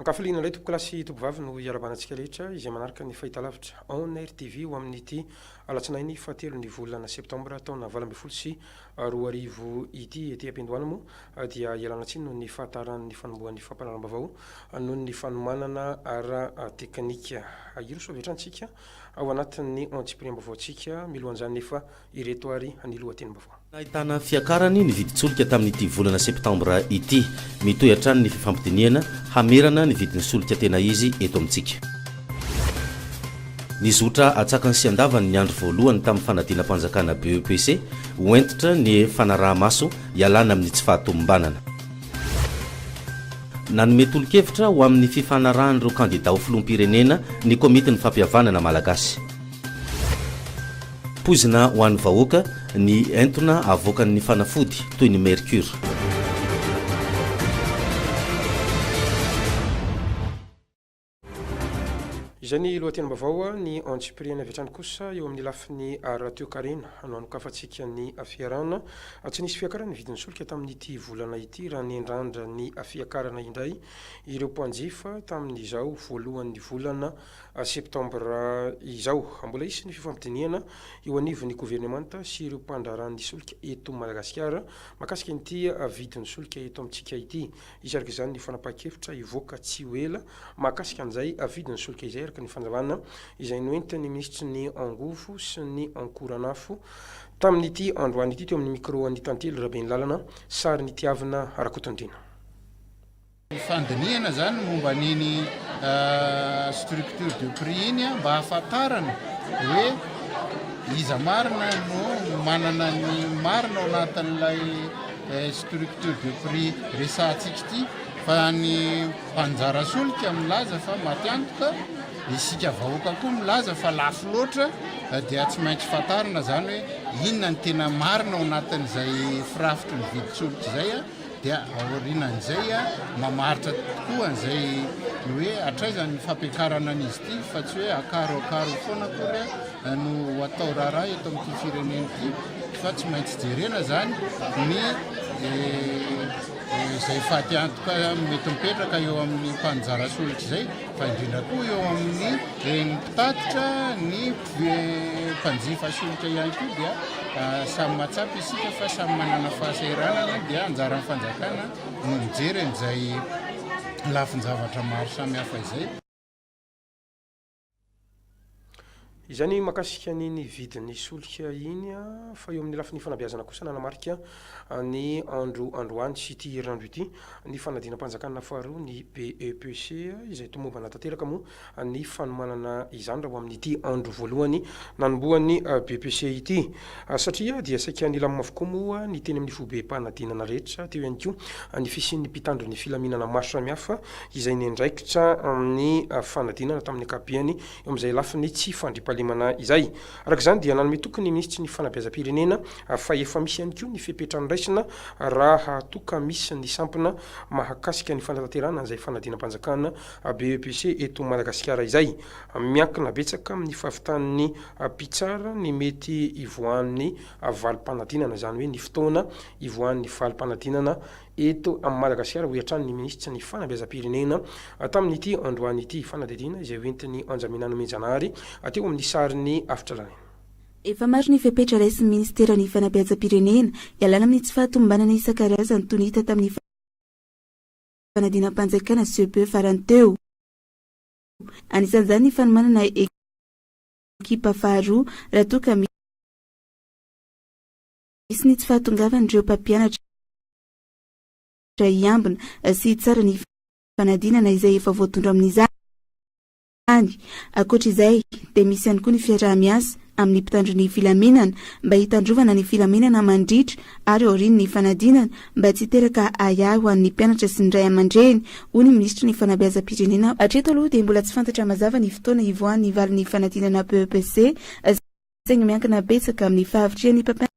Ankafaliana indray tompokolahy sy tompovavy no hiarabana antsika rehetra izay manaraka ny fahitalavitra On Air TV ho amin'ity alatsinainy fahatelon'ny volana septambra taona valo ambin'ny folo sy roa arivo ity ety am-piandohana moa dia ialana tsiny noho ny fahataharan'ny fanombohan'ny fampanaram-bavao noho ny fanomanana ara-teknika. Ahiro soa avy hatrany isika ao anatin'ny antsipiriam-baovaontsika milohan'izany nefa ireto ary ny lohatenim-baovao. Nahitana fiakarany ny vidin-tsolika tamin'ity volana septambra ity. Mitohy hatrany ny fifampidinihana hamerana ny vidin'ny solika tena izy eto amintsika. Nizotra atsakany sy andavany ny andro voalohany tamin'ny fanadinam-panjakana BEPC ho hentitra ny fanaraha-maso hialana amin'ny tsy fahatomombanana. Nanome tolo-kevitra ho amin'ny fifanarahan'ireo kandidà ho filoham-pirenena ny Komitin'ny Fampihavanana Malagasy. Poizina ho an'ny vahoaka ny entona avoakan'ny fanafody toy ny mercure. Izay ny lohatenim-baovao. Ny antsipiriany avy hatrany kosa eo amin'ny lafiny ara-toekarena no anokafantsika ny fiarahana. Tsy nisy fiakaran'ny vidin'ny solika tamin'ity volana ity raha nendrandra ny fiakarana indray ireo mpanjifa tamin'izao voalohan'ny volana septambra izao. Mbola hisy ny fifampidinihana eo anivon'ny governemanta sy ireo mpandraharahan'ny solika eto Madagasikara mahakasika ity vidin'ny solika eto amintsika ity. Hisy araka izany ny fanapahan-kevitra hivoaka tsy ho ela mahakasika an'izay vidin'ny solika izay araka ny fanalana izay noentin'ny minisitry ny Angovo sy ny Ankoranafo tamin'ity androany ity teo amin'ny micro an'i Tantely Rabenilalana, sarin'Itiavina Rakotondriana. Ny fandinihana izany ny momba an'iny structure de prix iny mba hahafantarana hoe iza marina no manana ny marina ao anatin'ilay structure de prix resahantsika ity fa ny mpanjara solika milaza fa matiantoka, isika vahoaka koa milaza fa lafo loatra dia tsy maintsy fantarina zany hoe inona ny tena marina ao anatin'izay firafitry ny vidin-tsolika izay dia aorinan'izay mamaritra tokoa an'izay hoe hatraiza ny fampiakarana an'izy ity fa tsy hoe akaro akaro foana akory no atao raharaha eto amin'ity firenena ity fa tsy maintsy jerena zany ny izay faty antoka mety mipetraka eo amin'ny mpanjara solitra zay fa indrindra koa eo amin'ny reny mpitatitra ny mpanjifa solitra ihany koa dia samy mahatsapa isika fa samy manana fahasahiranana dia anjaran'ny fanjakana no mijery an'izay lafin-javatra maro samy hafa izay Izay ny mahakasika ny ny vidin'ny solika iny an, fa eo amin'ny lafiny fanabeazana kosa nanamarika ny andro androany sy ity herinandro ity ny fanadinam-panjakana faharoa ny BEPC izay tomombana tanteraka moa ny fanomanana izany raha ho amin'ity andro voalohany nanombohan'ny BEPC ity. Satria dia saika nilamina avokoa moa ny teny amin'ny fobem-panadinana rehetra, teo ihany koa ny fisian'ny mpitandro ny filaminana maro samihafa izay niandraikitra ny fanadinana tamin'ny ankapobeny eo amin'izay lafiny tsy fandriampahalemana izay. Araka izany dia nanome toky ny minisitry ny fanabeazam-pirenena fa efa misy ihany koa ny fepetra noraisina raha toa ka misy ny sampona mahakasika ny fanatanterahana an'izay fanadinam-panjakana, BEPC, eto Madagasikara izay. Miankina betsaka amin'ny fahavitan'ny mpitsara ny mety hivoahan'ny valim-panadinana, izany hoe ny fotoana hivoahan'ny valim-panadinana eto Madagasikara, hoy hatrany ny minisitry ny Fanabeazam-pirenena tamin'ity androany ity. Fanadihadiana izay hoentin'i Anjamena Nomenjanahary teo amin'ny sarin'ny afitrarainy. Efa maro ny fepetra raisin'ny minisiteran'ny Fanabeazam-pirenena hialana amin'ny tsy fahatomombanana isan-karazany toy ny hita tamin'ny fanadinam-panjakana, CEPE, farany teo. Anisan'izany ny fanomanana ekipa faharoa raha toa ka misy ny tsy fahatongavan'ireo mpampianatra hiambina sy hitsara ny fanadinana izay efa voatondro amin'izany. Ankoatra izay dia misy ihany koa ny fiaraha-miasa. amin'ny mpitandro ny filaminana mba hitandrovana ny filaminana mandritra ary aorian'ny fanadinana mba tsy hiteraka ahiahy ho an'ny mpianatra sy ny ray aman-dreny, hoy ny minisitry ny Fanabeazam-pirenena. Hatreto aloha dia mbola tsy fantatra mazava ny fotoana hivoahan'ny valin'ny fanadinana BEPC, saingy miankina betsaka amin'ny fahavitrihan'ny mpampianatra.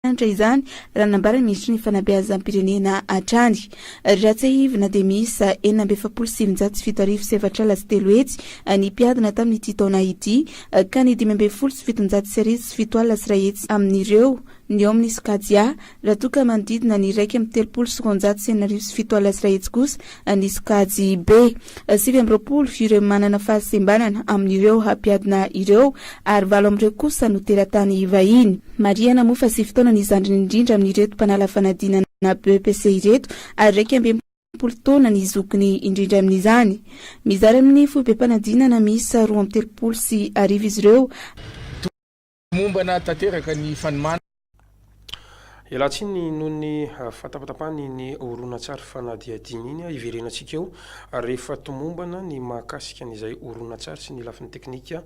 Mahafinaritra izany raha nambara ny Minisitry ny Fanabeazam-pirenena hatrany. Raha tsiahivina dia miisa enina amby efapolo sy sivinjato sy fito arivo sy efatra ala sy telo hetsy ny mpiadina tamin'ity taona ity ka ny dimy ambin'ny folo sy fitonjato sy arivo sy fito alina sy iray hetsy amin'ireo no eo amin'ny sokajy A raha toa ka manodidina ny iraika amby telopolo sy roanjato sy enina arivo sy fito alina sy iray hetsy kosa ny sokajy be sivy amby roapolo ireo manana fahasembanana amin'ireo hampiadina ireo ary valo amin'ireo kosa no teratany vahiny. Marihana moa fa sivy taona ny zandriny indrindra amin'ireto mpanala fanadinana BEPC ireto ary iraika amby enimpolo taona ny zokiny indrindra amin'izany. Mizara amin'ny foibem-panadinana miisa roa amby telopolo sy arivo izy ireo. Mombana tanteraka ny fanomana. Ialahy tsiny noho ny fahatapatapahana iny horonantsary fanadihadiana iny hiverenantsika eo rehefa tomombana ny mahakasika an' izay horonantsary sy ny lafiny teknika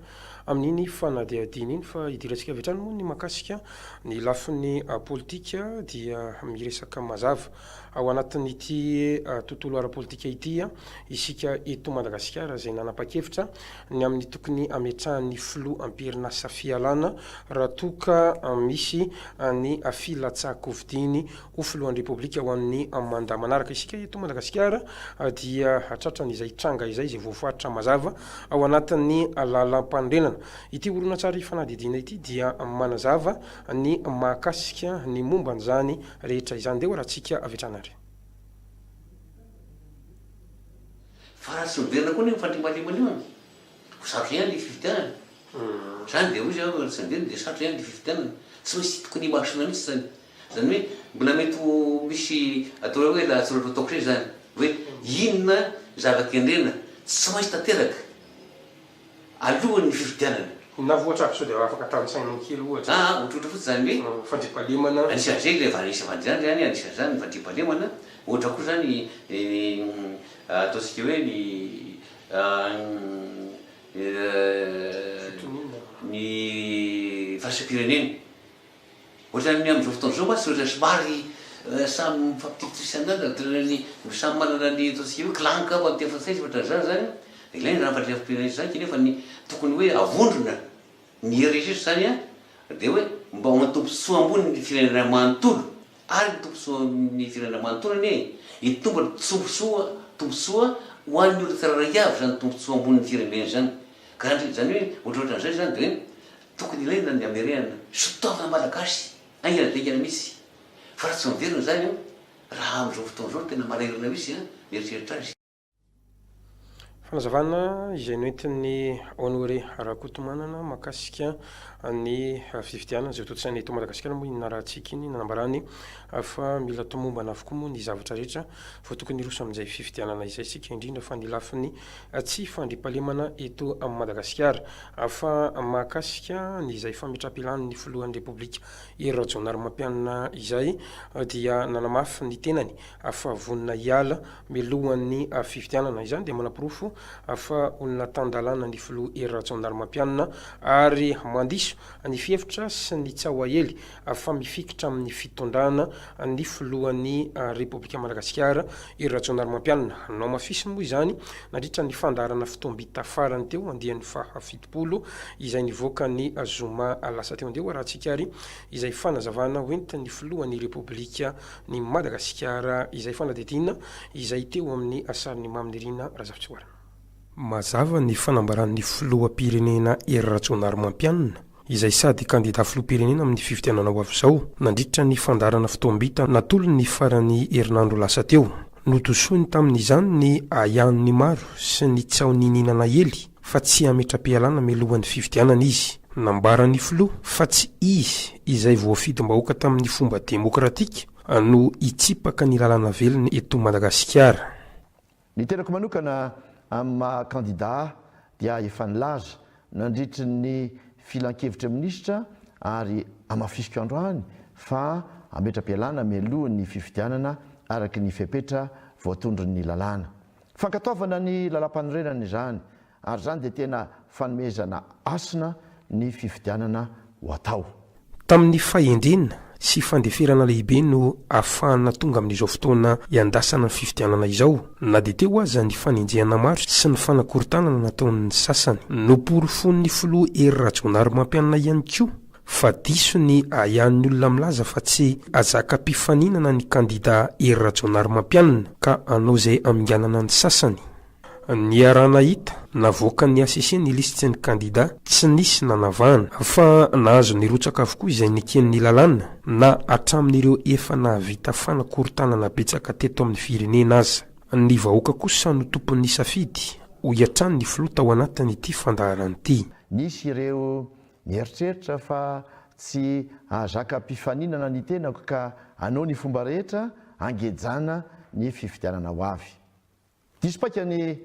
amin' iny fanadihadiana iny fa hidirantsika avy hatrany moa ny mahakasika ny lafiny politika dia miresaka mazava Ao anatin'ity tontolo ara-politika ity isika eto Madagasikara izay nanapa-kevitra ny amin'ny tokony hametrahan'ny filoha am-perinasa Fialana raha toa ka misy ny filatsahan-kofidiany ho filohan'ny Repoblika ho an'ny mandat manaraka. Isika eto Madagasikara dia tratran' izay tranga izay izay voafaritra mazava ao anatin'ny lalam-panorenana. Ity horonantsary fanadihadiana ity dia manazava ny mahakasika ny momba an'izany rehetra izany dé ora tsika avy hatrany ary. Fa raha tsy miverina koa anie ny fandriampahalemana io an! ho sarotra ihany le fifidianana. Zany dia hoy zany, raha tsy miverina dia sarotra ihany le fifidianana. Tsy maintsy titiky ny masona mihitsy zany. Zany hoe mbola mety ho misy atao hoe lahatsoratra ataoko indray zany hoe inona zava-kendrena tsy maintsy tanteraka. alohan'ny fifidianana. Na voatra aby sao dia afaka tanisaina kely ohatra. Aa, ohatrohatra fotsiny izany hoe. Fandriampahalemana. Anisan'izay ilay Vanessa Vandiana izany, anisan'izany ny fandriampahalemana, ohatra koa izany ny ataontsika hoe ny ny fitoniana ny valisampirenena. Ohatran'ny ny amin'izao fotoana izao mantsy dia ohatran'ny somary samy mifampitipitipy isan'andro ary toy ny samy manana ny ataontsika hoe clan angamba amin'ny teny frantsay sy ohatran'izany izany an, dia ilaina izany fahatreram-pirenena izany kanefa ny tokony hoe avondrona ny hery rehetra izany an, dia hoe mba ho an'ny tombontsoa ambony ny firenena manontolo ary ny tombontsoan'ny firenena manontolo anie e, hitombo ny tsombontsoa tombontsoa ho an'ny olona tsirairay avy izany tombontsoa ambonin'ny firenena izany ka izany hoe ohatrohatran'izay izany dia hoe. Tokony ilaina ny hamerenana sitaorana malagasy haingana dingana mihitsy fa raha tsy miverina izany an, raha amin'izao fotoana izao tena marairana mihitsy an, mieritreritra azy. Fanazavana izay noentin'i Honoré Rakotomanana mahakasika ny fifidianana izay hotontosaina eto Madagasikara moa iny narahantsika iny, nanambarany fa mila tomombana avokoa moa ny zavatra rehetra vao tokony hiroso amin'izay fifidianana izay isika, indrindra fa ny lafiny tsy fandriampahalemana eto Madagasikara, fa mahakasika an'izay fametraham-pilan'ny filohan'ny Repoblika Hery Rajaonarimampianina izay dia nanamafy ny tenany fa vonona hiala mialohan'ny fifidianana. Izany dia manaporofo fa olona tan-dalàna ny filoha Hery Rajaonarimampianina ary mandiso ny fihevitra sy ny tsaho aely fa mifikitra amin'ny fitondrana ny filohan'ny Repoblika Madagasikara i Rajaonarimampianina. Nohamafisiny moa izany nandritra ny fandaharana fotoam-bita farany teo andiany faha fitopolo izay nivoaka ny zoma lasa teo. Andeha arahantsika ary izay fanazavana hoentin'ny filohan'ny Repoblika ny Madagasikara izay fanadihadiana izay teo amin'ny sarin'i Mamy Nirina Razafitsihoarana. Mazava ny fanambaran'ny filoham-pirenena Hery Rajaonarimampianina, izay sady kandida filoham-pirenena amin'ny fifidianana ho avy izao, nandritra ny fandaharana fotoam-bita natolony ny faran'ny herinandro lasa teo. Notosoiny tamin'izany ny ahiahin'ny maro sy ny tsaho niniana naely fa tsy hametra-pialana mialohan'ny fifidianana izy. Nambaran'ny filoha fa tsy izy izay voafidim-bahoaka tamin'ny fomba demokratika no hitsipaka ny lalana velona eto Madagasikara. Ny tenako manokana amin'ny maha kandidà dia efa nilaza nandritry ny filankevitry ny minisitra ary hamafisiko androany fa hametra-pialana mialoha ny fifidianana araka ny fepetra voatondron'ny lalàna. Fankatoavana ny lalàmpanorenana izany Ary izany dia tena fanomezana hasina ny fifidianana ho atao. Tamin'ny fahendrena sy fandeferana lehibe no ahafahana tonga amin'izao fotoana iandrasana ny fifidianana izao, na dia teo aza ny fanenjehana maro sy ny fanakorontanana nataon'ny sasany. Noporofoin'ny filoha Hery Rajaonarimampianina ihany koa fa diso ny ahiahin'ny olona milaza fa tsy hazaka mpifaninana ny kandida Hery Rajaonarimampianina ka hanao izay haminganana ny sasany. Niaraha-nahita navoakan'ny hcc ny lisitsin'ny kandidà tsy nisy nanavahana, fa nahazo nirotsaka avokoa izay neken'ny lalàna, na hatramin'ireo efa nahavita fanakorontanana betsaka teto amin'ny firenena aza. Ny vahoaka kosa no tompon'ny safidy, hoy hatrany ny filoha tao anatin'ity fandaharana ity. Nisy ireo nieritreritra fa tsy hahazaka ampifaninana ny tenako ka hanao ny fomba rehetra hangejana ny fifidianana ho avy. Diso paika ny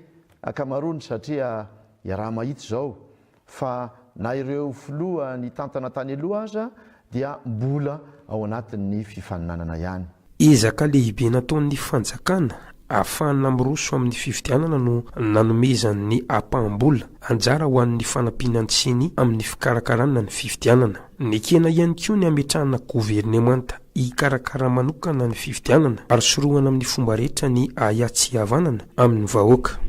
ankamaroany satria iaraha-mahita izao fa na ireo filoha nitantana tany aloha aza dia mbola ao anatin'ny fifaninanana ihany. Ezaka lehibe nataon'ny fanjakana ahafahana miroso amin'ny fifidianana no nanomezan'ny ampaham-bola anjara ho an'ny fanampiana ny ceni amin'ny fikarakarana ny fifidianana. Nekena ihany koa ny hametrahana governemanta hikarakara manokana ny fifidianana ary sorohana amin'ny fomba rehetra ny ahiatsihavanana amin'ny vahoaka.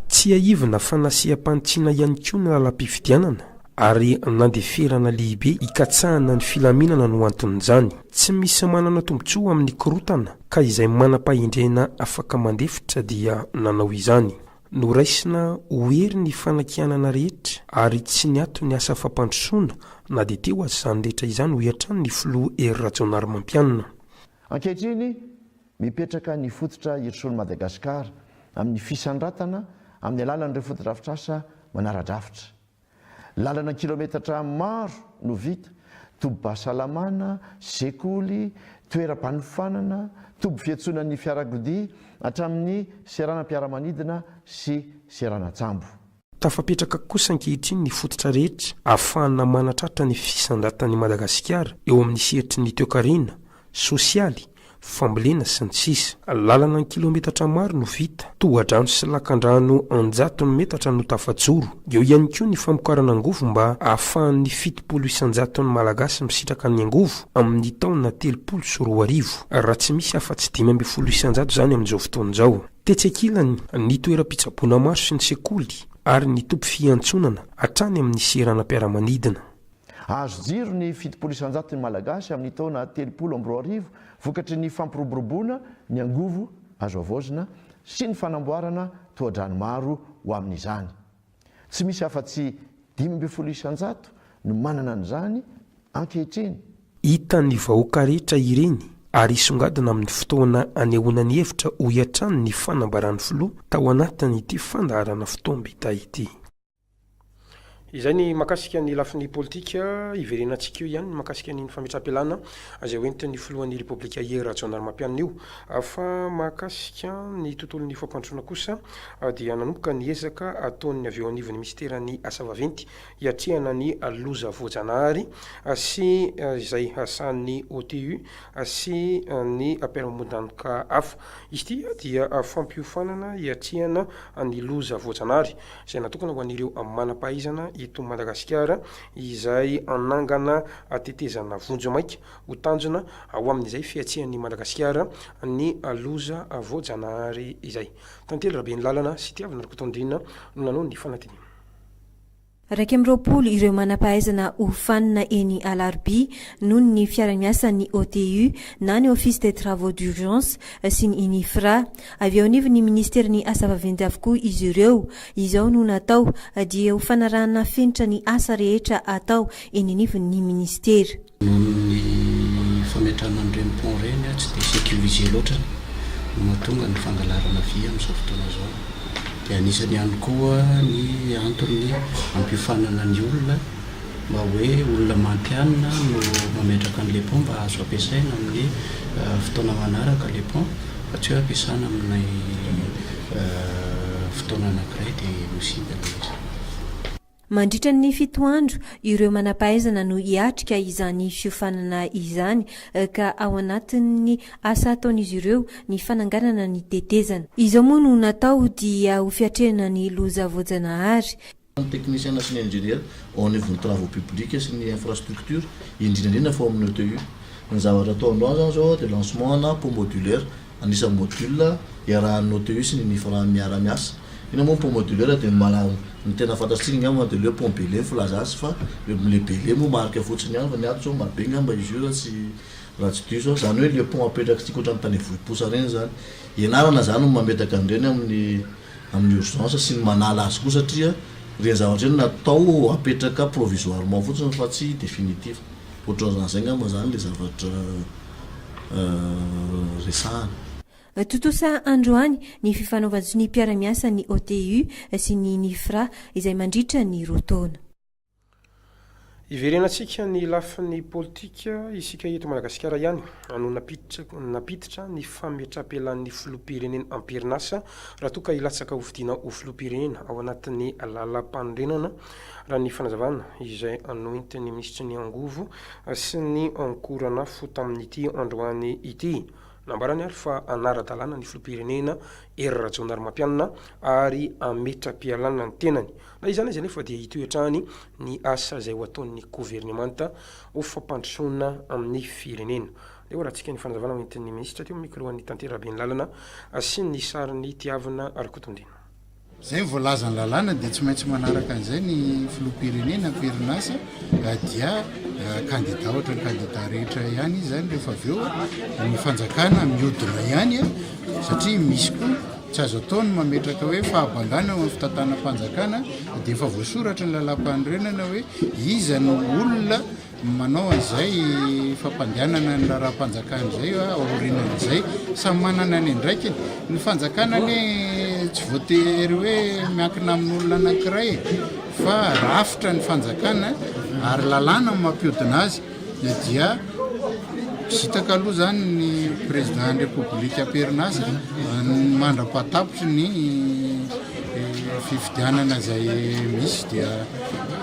Tsiahivina fa nasiam-panitsiana ihany koa ny lalam-pifidianana ary nandeferana lehibe hikatsahana ny filaminana no anton'izany. Tsy misy manana tombontsoa amin'ny korontana ka izay manam-pahendrena afaka mandefitra dia nanao izany. Noraisina ho hery ny fanakianana rehetra ary tsy niato ny asa fampandrosoana na dia teo aza izany rehetra izany, hoy hatrany ny filoha Hery Rajaonarimampianina. Ankehitriny, mipetraka ny fototra Hir'Soul Madagascar amin'ny fisandratana amin'ny alalan'ireo fotodrafitrasa manara-drafitra. Lalana kilometatra maro no vita, tobim-pahasalamana, sekoly, toeram-panofanana, toby fiantsonan'ny fiarakodia, hatramin'ny seranam-piaramanidina sy seranan-tsambo. Tafapetraka kosa ankehitriny ny fototra rehetra ahafahana manatratra ny fisandratan'i Madagasikara eo amin'ny sehatry ny toekarena, sosialy, fambolena sy ny sisa Lalana an-kilometatra maro no vita, tohadrano sy lakandrano an-jatony metatra no tafajoro, eo ihany koa ny famokarana angovo mba ahafahan'ny fitopolo isan-jaton'ny Malagasy misitraka ny angovo amin'ny taona telopolo sy roa arivo, raha tsy misy afa-tsy dimy ambin'ny folo isan-jato izany amin'izao fotoana izao. Tetsy ankilany, ny toeram-pitsaboana maro sy ny sekoly ary ny tobim-piantsonana hatrany amin'ny seranam-piaramanidina. Hahazo jiro ny fitopolo isan-jato ny Malagasy amin'ny taona telopolo amby roa arivo vokatry ny fampiroboroboana ny angovo azo havaozina sy ny fanamboarana tohadrano maro ho amin'izany. Tsy misy afa-tsy dimy ambin'ny folo isan-jato no manana an'izany ankehitriny. Hitan'ny vahoaka rehetra ireny ary hisongadina amin'ny fotoana anehoana ny hevitra, hoy hatrany ny fanambaran'ny filoha tao anatin'ity fandaharana fotoam-bita ity. Izay ny mahakasika ny lafiny politika. Hiverenantsika eo ihany ny mahakasika an'iny fametraham-pialana izay hoentin'ny filohan'ny Repoblika Hery Rajaonarimampianina io. Fa mahakasika ny tontolon'ny fampandrosoana kosa dia nanomboka ny ezaka ataon'ny avy eo anivon'ny minisiteran'ny Asa vaventy hiatrehana ny loza voajanahary sy izay sahanin'ny OTU sy ny mpiaramondanoka hafa. Izy ity dia fampiofanana hiatrehana ny loza voajanahary. izay natokana ho an'ireo manam-pahaizana eto Madagasikara, izay hanangana tetezana vonjy maika ho tanjona ho amin'izay fiatsian'i Madagasikara ny loza voajanahary izay. Tantely Rabenilalana sy Tiavina Rakotondriana no nanao ny fanadinana. Iraika amby roapolo ireo manam-pahaizana hofanina eny Alarobia noho ny fiaraha-miasan'ny OTU na ny Office des Travaux d'Urgence sy ny Inifra. Avy eo anivon'ny Minisiterin'ny Asa vaventy avokoa izy ireo. Izao no natao dia ho fanarahana fenitra ny asa rehetra atao eny anivon'ny Minisitera. Noho ny fametrahana an'ireny pont ireny tsy dia sécurisé loatra no mahatonga ny fangalarana vy amin'izao fotoana izao. Dia anisany ihany koa ny antony hampiofanana ny olona mba hoe olona mantianina no mametraka an'ilay pont mba azo ampiasaina amin'ny fotoana manaraka ilay pont. Tsy hoe ampiasana amin'ilay fotoana anankiray dia misiba ilay izy. Mandritra ny fito andro, ireo manam-pahaizana no hiatrika izany fiofanana izany ka ao anatin'ny asa ataon'izy ireo ny fananganana ny tetezana. Izao moa no natao dia ho fiatrehana ny loza voajanahary ny teknisiana sy ny injeniera ao anivon'ny travaux publics sy ny infrastructures, indrindra indrindra fa ao amin'ny ETU. Ny zavatra atao androany izany izao dia lancement ana pont modulaire, an'isa module iarahan'ny OTU sy ny Nifra miara-miasa. Inona moa ny pont modulaire dia ny mala, ny tena fantatsika angamba dia ilay hoe pont Bele ny filazana azy fa ilay Bele moa marika fotsiny ihany fa ny ato izao Marobe angamba izy io raha tsy raha tsy diso aho. Izany hoe ilay pont apetrak'isika ohatran'ny tany vohiposa ireny izany. Ianarana izany no mametaka an'ireny amin'ny. amin'ny urgence sy ny manala azy koa satria ireny zavatra ireny natao apetraka provisoirement fotsiny fa tsy definitif. Ohatran'izany izay angamba izany ilay zavatra resahana. Tontosa androany ny fifanaovan-tsonia mpiara-miasa ny OTU sy ny Nifra izay mandritra ny roa taona. Hiverenantsika ny lafiny politika isika eto Madagasikara ihany no nampiditra ny fametrapelahan'ny filoham-pirenena am-perinasa raha toa ka hilatsaka hofidiana ho filoham-pirenena ao anatin'ny lalampanorenana raha ny fanazavana izay noentin'ny minisitry ny angovo sy ny ankoranafo tamin'ity androany ity. Nambarany ary fa hanara-dalàna ny filoham-pirenena Hery Rajaonarimampianina ary hametra-pialana ny tenany. Na izany aza anefa dia hitohy hatrany ny asa izay ho ataon'ny governemanta ho fampandrosoana ny firenena. Leo Ratsika ny fanazavana hoentin'ny minisitra teo amin'ny micro-an'i Tantera Benlalana sy ny sarin'i Tiavina Rakotondena. Izay ny voalazan'ny lalàna dia tsy maintsy manaraka an'izay ny filoham-pirenena am-perinasa dia kandida ohatra ny kandida rehetra ihany izy izany rehefa avy eo ny fanjakana mihodina ihany satria misy koa tsy azo atao ny mametraka hoe fahabangana eo amin'ny fitantanam-panjakana dia efa voasoratra ny lalam-panorenana hoe iza no olona Ny manao an'izay fampandehanana ny raharaham-panjakana izay aorinan'izay, samy manana ny andraikiny. Ny fanjakana anie tsy voatery hoe miankina amin'olona anankiray e, fa rafitra ny fanjakana ary lalàna no mampihodina azy, na dia Visitaka aloha izany ny Président ny République amperina azy mandra-pahatapitry ny fifidianana izay misy dia.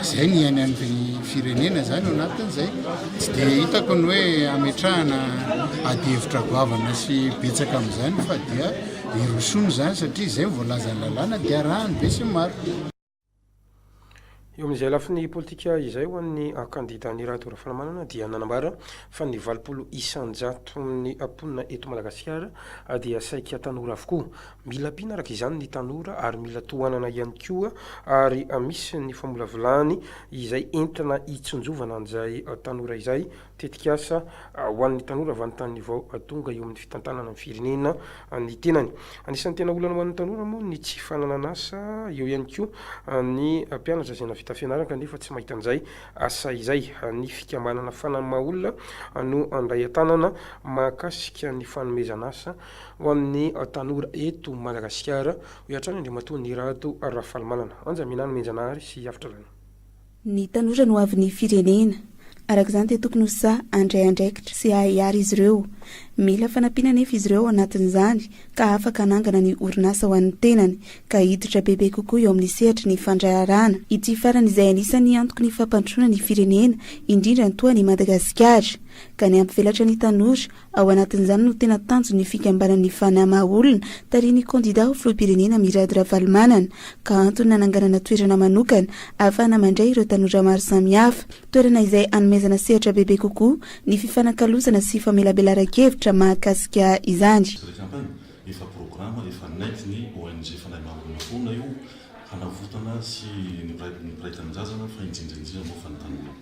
Izay ny any amin'ny firenena izany ao anatin'izay. Tsy dia hitako ny hoe ametrahana adihevitra goavana sy betsaka amin'izany fa dia hirosoana izany satria izay ny voalazan'ny lalàna dia arahan'ny besinimaro. Eo amin'izay lafiny politika izay ho an'ny kandidan'i Rado Rafalimanana dia nanambara fa ny valopolo isan-jaton'ny mponina eto Madagasikara dia saika tanora avokoa. Mila ampiana araka izany ny tanora ary mila tohanana ihany koa ary misy ny famolavolany izay entina hitsinjovana an'izay tanora izay, tetikasa ho an'ny tanora avy any tanin'ny vao tonga eo amin'ny fitantanana ny firenena ny tenany. Anisan'ny tena olana ho an'ny tanora moa ny tsy fananan'asa, eo ihany koa ny mpianatra izay navita fianarana kanefa tsy mahita an'izay asa izay. Ny fikambanana Fanammaolona no handray an-tanana mahakasika ny fanomezan'asa Ho an'ny tanora eto Madagasikara, hoy hatrany Andriamatoa Nirato Rafalimanana. Anja Minana Mianjanahary sy Afitra Lana. Ny tanora no hoavin'ny firenena. Araka izany dia tokony ho sahy handray andraikitra sy hahahiary izy ireo. Mila fanampiana anefa izy ireo ao anatin'izany ka afaka hanangana ny orinasa ho an'ny tenany ka hiditra bebe kokoa eo amin'ny sehatry ny fandraharahana. Ity farany izay anisan'ny antoky ny fampandrosoana ny firenena, indrindra ny toa an'i Madagasikara. Ka ny hampivelatra ny tanora Ao anatin'izany no tena tanjon'ny fikambanan'ny Fana maha olona, tarihin'ny kandidà ho filoham-pirenena Mirado Ravalomanana, ka antony nananganana toerana manokana ahafahana mandray ireo tanora maro samihafa. Toerana izay hanomezana sehatra bebe kokoa ny fifanakalozana sy famelabelaran-kevitra mahakasika izany. Efa programa efa nentin'ny ONG Fanahy Maha Olona foana io hanavotana sy ny mpiray tanindrazana fa indrindra indrindra moa fa ny tanora.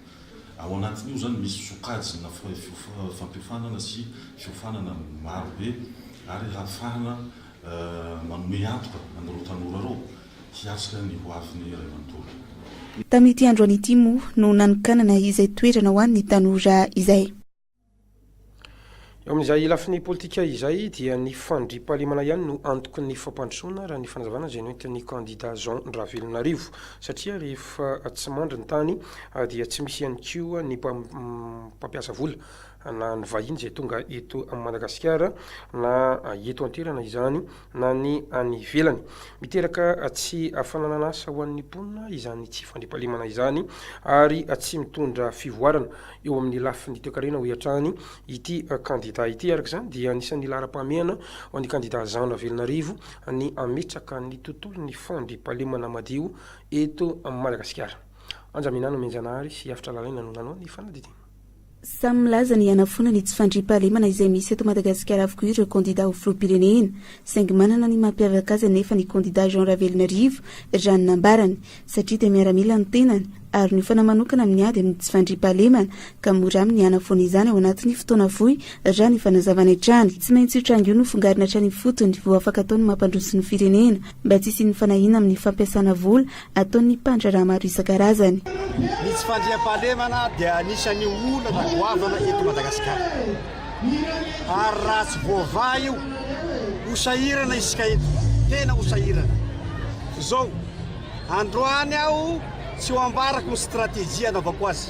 Ao anatin'io izany misy sokajina fampiofanana sy fiofanana maro be ary hahafahana manome antoka an'ireo tanora ireo hiatrika ny ho avin'ny iray manontolo. Tamin'ity androany ity moa no nanokanana izay toerana ho an'ny tanora izay. Eo amin'izay lafiny politika izay dia ny fandriampahalemana ihany no antoky ny fampandrosoana raha ny fanazavana izay noentin'ny kandida Jean Ravelonarivo satria rehefa tsy mandry ny tany dia tsy misy ihany koa ny mpampiasa vola na ny vahiny izay tonga eto Madagasikara na eto an-toerana izany na ny any ivelany. Miteraka tsy fananan'asa ho an'ny mponina izany tsy fandriampahalemana izany ary tsy mitondra fivoarana eo amin'ny lafiny toekarena, hoy hatrany ity kandidà ity. Araka izany dia anisan'ny laharam-pahamehana ho an'ny kandidà Jean Ravelonarivo ny hametraka ny tontolon'ny fandriampahalemana madio eto Madagasikara. Anja Minano Mianjanahary sy Afitra Lalaina no nanao ny fanadidina. Samy milaza ny hanafoana ny tsy fandriampahalemana izay misy eto Madagasikara avokoa ireo kandida ho filoham-pirenena, saingy manana ny mampiavaka azy anefa ny kandida Jean Ravelonarivo, raha ny nambarany, satria dia miaramila ny tenany ary niofana manokana amin'ny ady amin'ny tsy fandriampahalemana ka mora aminy ny hanafoana izany ao anatin'ny fotoana fohy, raha ny fanazavany hatrany. Tsy maintsy io tranga io no fongarina hatrany ifotony vao afaka atao ny mampandroso ny firenena mba tsy hisian'ny fanahiana amin'ny fampiasana vola ataon'ny mpandraharaha maro isan-karazany. Ny tsy fandriampahalemana dia anisan'ny olana goavana eto Madagasikara. Ary raha tsy voavaha io, ho sahirana isika eto, tena ho sahirana. Izao, androany aho tsy ho ambarako ny stratégie anaovako azy.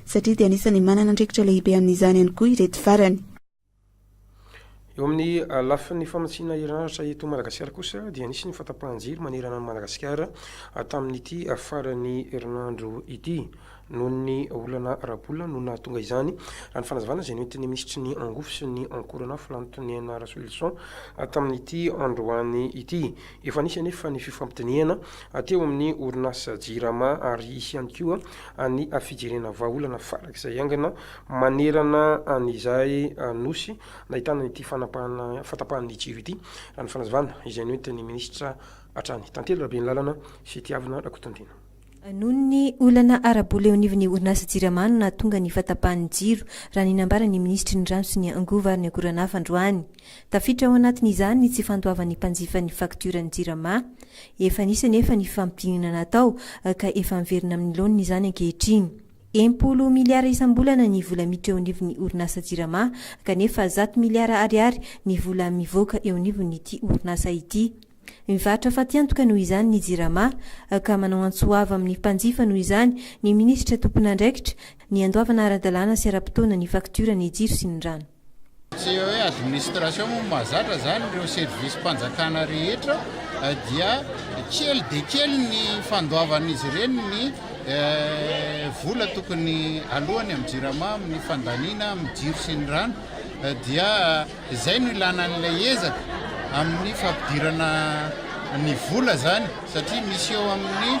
satria dia anisan'ny manana andraikitra lehibe amin'izany ihany koa ireto farany. Eo amin'ny lafiny famatsiana herinaratra eto Madagasikara kosa dia nisy ny fahatapahan-jiro manerana an'i Madagasikara tamin'ity faran'ny herinandro ity noho ny olana ara-bola no nahatonga izany, raha ny fanazavana izay nentin'ny minisitry ny Angovo sy ny Ankoronafo Lantonena Rasolison tamin'ity androany ity. Efa nisy anefa ny fifampidinihana teo amin'ny orinasa Jirama ary hisy ihany koa ny fijerena vahaolana farak'izay haingana manerana an'izay Nosy nahitana an'ity fanapahana fahatapahan'ny jiro ity, raha ny fanazavana izay nentin'ny minisitra hatrany, Tantely Rabeanilalana sy Tiavina Rakotondiana. Noho ny olana ara-bola eo anivon'ny orinasa Jirama no nahatonga ny fahatapahan'ny jiro, raha ny nambaran'ny minisitry ny Rano sy ny Angovo ary ny Akoranafo androany. Tafiditra ao anatin'izany ny tsy fandoavan'ny mpanjifa ny faktioran'ny Jirama. Efa nisy anefa ny fifampidinana natao ka efa miverina amin'ny laoniny izany ankehitriny. Enimpolo miliara isam-bolana ny vola miditra eo anivon'ny orinasa Jirama kanefa zato miliara ariary ny vola mivoaka eo anivon'ity orinasa ity. Mivarotra fatiantoka noho izany ny Jirama, ka manao antso avo amin'ny mpanjifa noho izany ny minisitra tompon'andraikitra, ny handoavana ara-dalàna sy ara-potoana ny faktiora ny jiro sy ny rano. Tsy hoe administration moa no mahazatra izany, ireo service-mpanjakana rehetra dia kely dia kely ny fandoavan'izy ireny ny vola tokony aloany amin'ny Jirama amin'ny fandaniana amin'ny jiro sy ny rano dia Izay no ilana an'ilay ezaka amin'ny fampidirana ny vola izany satria misy eo amin'ny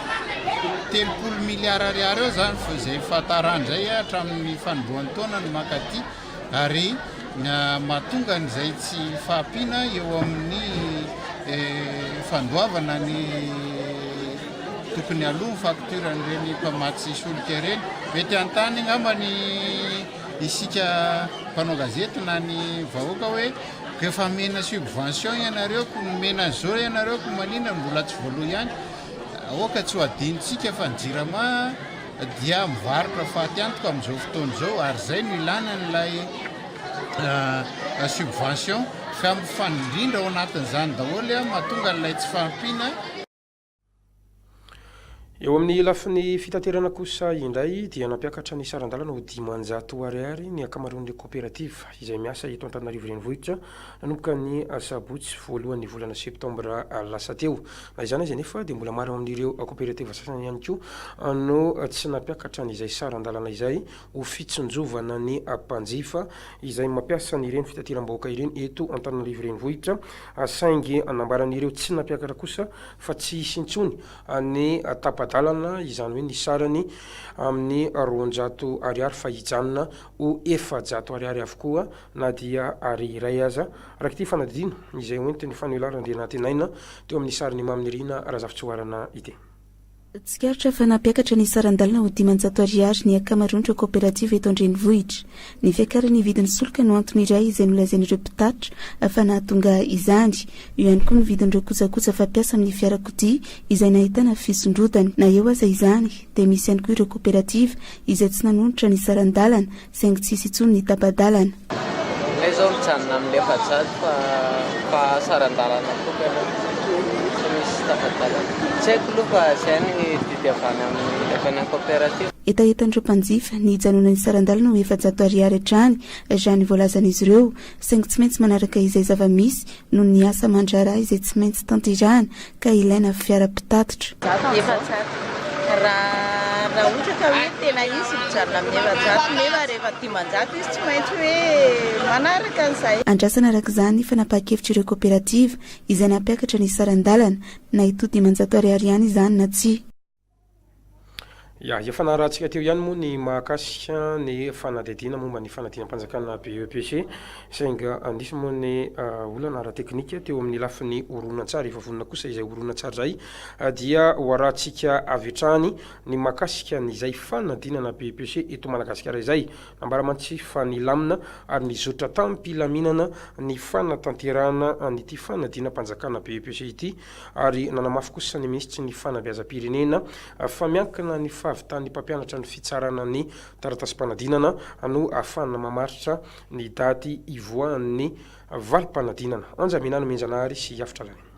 telopolo milliards ariary eo izany vao izay fahatarany izay hatramin'ny fanombohan'ny taona no mankaty ary mahatonga an'izay tsy fahampiana eo amin'ny fandoavana ny tokony aloha ny facture an'ireny mpamatsy solika ireny. Mety hanontany angamba ny. Isika mpanao gazety na ny vahoaka hoe ko efa amena subvention ianareo ko nomena zo ianareo ko maninona no mbola tsy voaloa ihany? Aoka tsy ho adinontsika fa ny jirama dia mivarotra faty antoka amin'izao fotoana izao ary izay no ilana an'ilay subvention ka mifandrindra ao anatin'izany daholo mahatonga an'ilay tsy fahampiana Eo amin'ny lafiny fitaterana kosa indray dia nampiakatra ny saran-dalana ho dimanjato ariary ny ankamaroan'ireo koperativa izay miasa eto Antananarivo Renivohitra nanomboka ny sabotsy voalohan'ny volana septambra lasa teo. Na izany aza anefa dia mbola maro amin'ireo koperativa sasany ihany koa no tsy nampiakatra an'izay saran-dalana izay ho fitsinjovana ny mpanjifa izay mampiasa an'ireny fitateram-bahoaka ireny eto Antananarivo Renivohitra, saingy nambaran'ireo tsy nampiakatra kosa fa tsy hisy intsony ny tapa-dalana, izany hoe ny sarany amin'ny roanjato ariary fa hijanona ho efajato ariary avokoa na dia Ari iray aza, araka ity fanadihdiana izay hoentin'ny Faniola Randrianantenaina teo amin'ny sarin'i Mamy Nirina Razafitsihoarana ity. Tsikaritra fa nampiakatra ny saran-dalana ho dimanjato ariary ny ankamaroan'ireo kaoperativa eto an-drenivohitra. Ny fiakaran'ny vidin'ny solika no antony iray izay nolazain'ireo mpitatitra fa nahatonga izany. Eo ihany koa ny vidin'ireo kojakoja fampiasa amin'ny fiarakodia izay nahitana fisondrotana. Na eo aza izany dia misy ihany koa ireo kaoperativa izay tsy nanonitra ny saran-dalana Saingy tsy hisy intsony ny tapa-dalana. Ilay izao mijanona amin'ny efajato fa mba saran-dalana koa ve aloha tsy misy tapa-dalana. Tsy haiko aloha fa izay ny didy avy any amin'ny lefanan'ny kaoperativa. Hetahetan'ireo mpanjifa ny hijanona ny saran-dalana ho efajato ariary hatrany raha ny voalazan'izy ireo. Saingy tsy maintsy manaraka izay zava-misy noho ny asa aman-draharaha izay tsy maintsy tanterahana. ka ilaina fiara mpitatitra. Zato ny efajato. Raha raha ohatra ka hoe tena izy mijanona amin'ny efajato nefa rehefa dimanjato izy tsy maintsy hoe manaraka an'izay. Andrasana araka izany fanapahan-kevitr'ireo kaoperativa izay nampiakatra ny saran-dalana na hitohy dimanjato ariary ihany izany na tsia. Ya, efa narahantsika teo ihany moa ny mahakasika ny fanadihadiana momba ny fanadinam-panjakana BEPC, saingy nisy moa ny olana ara-teknika teo amin'ny lafiny horonantsary, efa vonona kosa izay horonantsary izay, dia ho arahantsika avy hatrany ny mahakasika ny izay fanadinana BEPC eto Madagasikara izay. Nambara mantsy fa nilamina ary nizotra tam-pilaminana ny fanatanterahana an'ity fanadinam-panjakana BEPC ity ary nanamafy kosa ny minisitry ny fanabeazam-pirenena fa miankina ny fahavitan'ny mpampianatra ny fitsarana ny taratasim-panadinana no ahafahana mamaritra ny daty hivoahan'ny valim-panadinana. Anja Minany Menjanahary sy Yafy Tralany.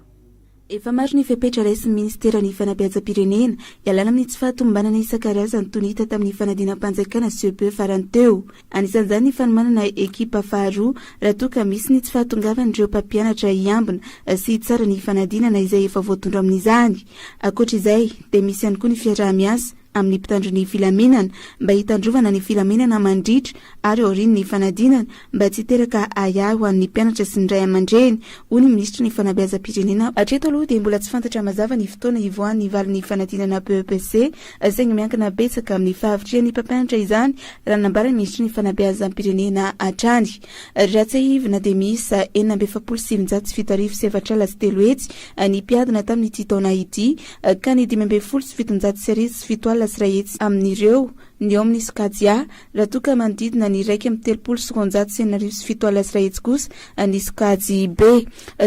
Efa maro ny fepetra raisin'ny minisiteran'ny fanabeazam-pirenena hialana amin'ny tsy fahatomombanana isan-karazany toy ny hita tamin'ny fanadinam-panjakana, CEPE, farany teo. Anisan'izany ny fanomanana ekipa faharoa raha toa ka misy ny tsy fahatongavan'ireo mpampianatra hiambina sy hitsara ny fanadinana izay efa voatondro amin'izany. Ankoatra izay dia misy ihany koa ny fiaraha-miasa amin'ny mpitandro ny filaminana mba hitandrovana ny filaminana mandritra ary aorian'ny fanadinana mba tsy hiteraka ahiahy ho an'ny mpianatra sy ny ray aman-dreny, hoy ny minisitry ny fanabeazam-pirenena. Hatreto aloha dia mbola tsy fantatra mazava ny fotoana hivoahan'ny valin'ny fanadinana BEPC. saingy miankina betsaka amin'ny fahavitrihan'ny mpampianatra izany raha nambara ny Minisitry ny Fanabeazam-pirenena hatrany. Raha tsiahivina dia miisa enina amby efapolo sy sivinjato sy fito arivo sy efatr'ala sy telo hetsy ny mpiadina tamin'ity taona ity ka ny dimy ambin'ny folo sy fitonjato sy arivo sy fito alina sy iray hetsy amin'ireo ny eo amin'ny sokajy A, Raha toa ka manodidina ny iraika amby telopolo sy roanjato sy enina arivo sy fito alina sy iray hetsy kosa ny sokajy be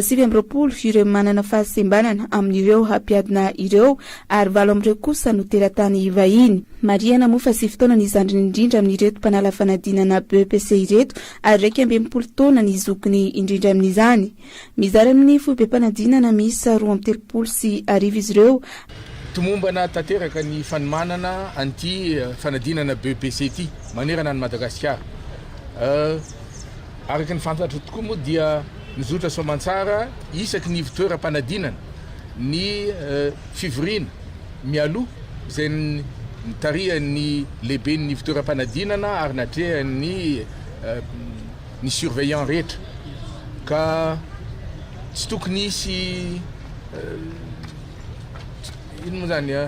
sivy amby roapolo ireo manana fahasembanana amin'ireo hampiadina ireo ary valo amin'ireo kosa no teratany vahiny. Marihana moa fa sivy taona ny zandriny indrindra amin'ireto mpanala fanadinana BEPC ireto ary iraika amby enimpolo taona ny zokiny indrindra amin'izany. Mizara amin'ny foibem-panadinana miisa roa amby telopolo sy arivo izy ireo. Tomombana tanteraka ny fanomanana an'ity fanadinana BEPC ity manerana an'i Madagasikara. Araka ny fantatro tokoa moa dia mizotra soamantsara isaky ny ivon-toeram-panadinana ny fivoriana mialoha izay nitarihan'ny lehiben'ny ivon-toeram-panadinana ary natrehan'ny ny surveillant rehetra ka tsy tokony hisy inona moa zany a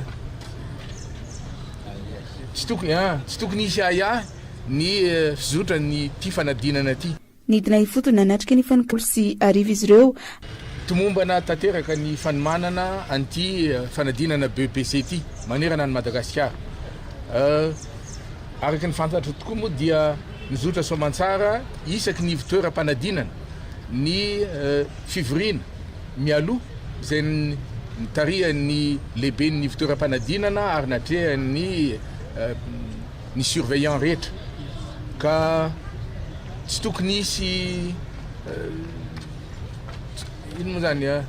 tsy tokony a tsy tokony hisy ahiahy ny fizotran'ity fanadinana ity. Nidina ifotony nanatrika ny fanompoana folo sy arivo izy ireo. Tomombana tanteraka ny fanomanana an'ity fanadinana BEPC ity manerana an'i Madagasikara. Araka ny fantatro tokoa moa dia. Mizotra soamantsara isaky ny ivontoeram-panadinana ny fivoriana mialoha izay nitarihan'ny lehiben'ny ivontoeram-panadinana ary natrehan'ny ny surveillant rehetra ka tsy tokony hisy inona moa izany an?